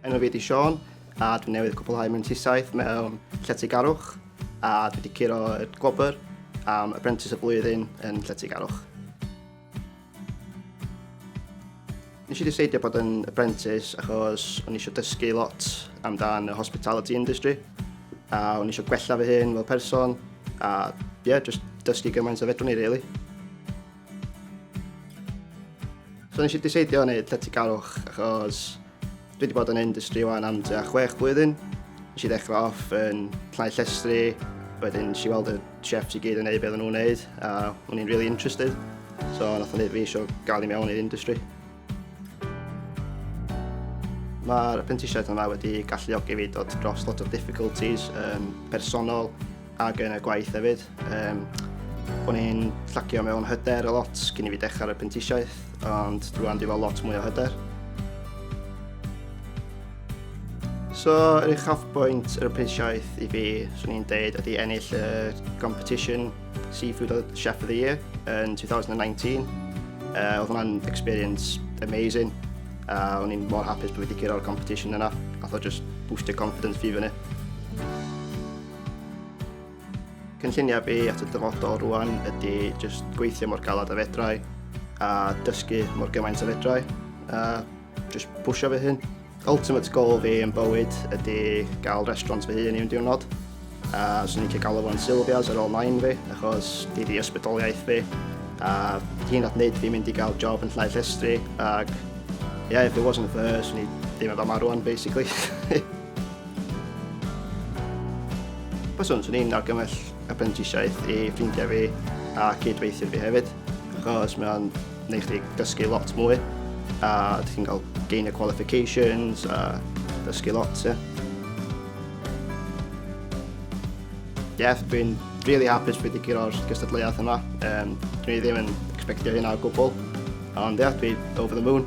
Enw fi ydi Sean a dwi newydd cwblhau mewn tisaeth mewn lletygarwch a dwi wedi curo y gwobr am Apprentice y Flwyddyn yn lletygarwch. Nes i ddiseidio bod yn apprentice achos o'n eisiau dysgu lot amdan y hospitality industry a o'n eisiau gwella fy hun fel person a ie, yeah, just dysgu gymaint o fedrwn i, really. So nes i diseidio wneud lletygarwch achos dwi wedi bod yn industry wan am tua chwech blwyddyn. Nes i ddechrau off yn llnau llestri, wedyn si weld y chefs i gyd yn neud beth nhw'n neud a o'n i'n really interested. So nath o'n neud fi eisiau gael i mewn i'r industry. Mae'r prentisiaeth yma wedi galluogi fi dod dros lot o difficulties um, personol ac yn y gwaith hefyd. Um, o'n i'n llacio mewn hyder a lot cyn i fi dechrau'r prentisiaeth, ond dwi'n dwi fel lot mwy o hyder. So, yr uchafbwynt yr prentisiaeth i fi, swn i'n deud, ydy ennill y competition Seafood oedd Chef of the Year yn 2019. Uh, oedd hwnna'n experience amazing. Uh, o'n i'n mor hapus bod wedi gyrra'r competition yna. A thought just boosted confidence fi fyny. Cynlluniau fi at y dyfodol rwan ydy just gweithio mor galad a fedrau a dysgu mor gymaint a fedrau. Uh, Just pwysio fy hun. Ultimate goal fi yn bywyd ydy gael restaurant fy hun i un diwrnod. A swn i'n cael galw fo'n Sylvia's ar ôl nain fi, achos di di ysbrydoliaeth fi. A hyn at wneud fi mynd i gael job yn llai llestri, ac yeah, if it wasn't for her, swn i ddim efo marw rwan, basically. Byswn, swn i'n argymell apprentisiaeth i ffrindiau fi a cydweithio fi hefyd, achos mae'n Neu chdi dysgu lot mwy, a ti'n cael gain y qualifications a dysgu lot, ie. Yeah. yeah, dwi'n really hapus bod wedi gyro'r gystadleuaeth yma. Um, dwi'n ddim yn expectio hynna o gwbl. Ond ia, yeah, dwi over the moon.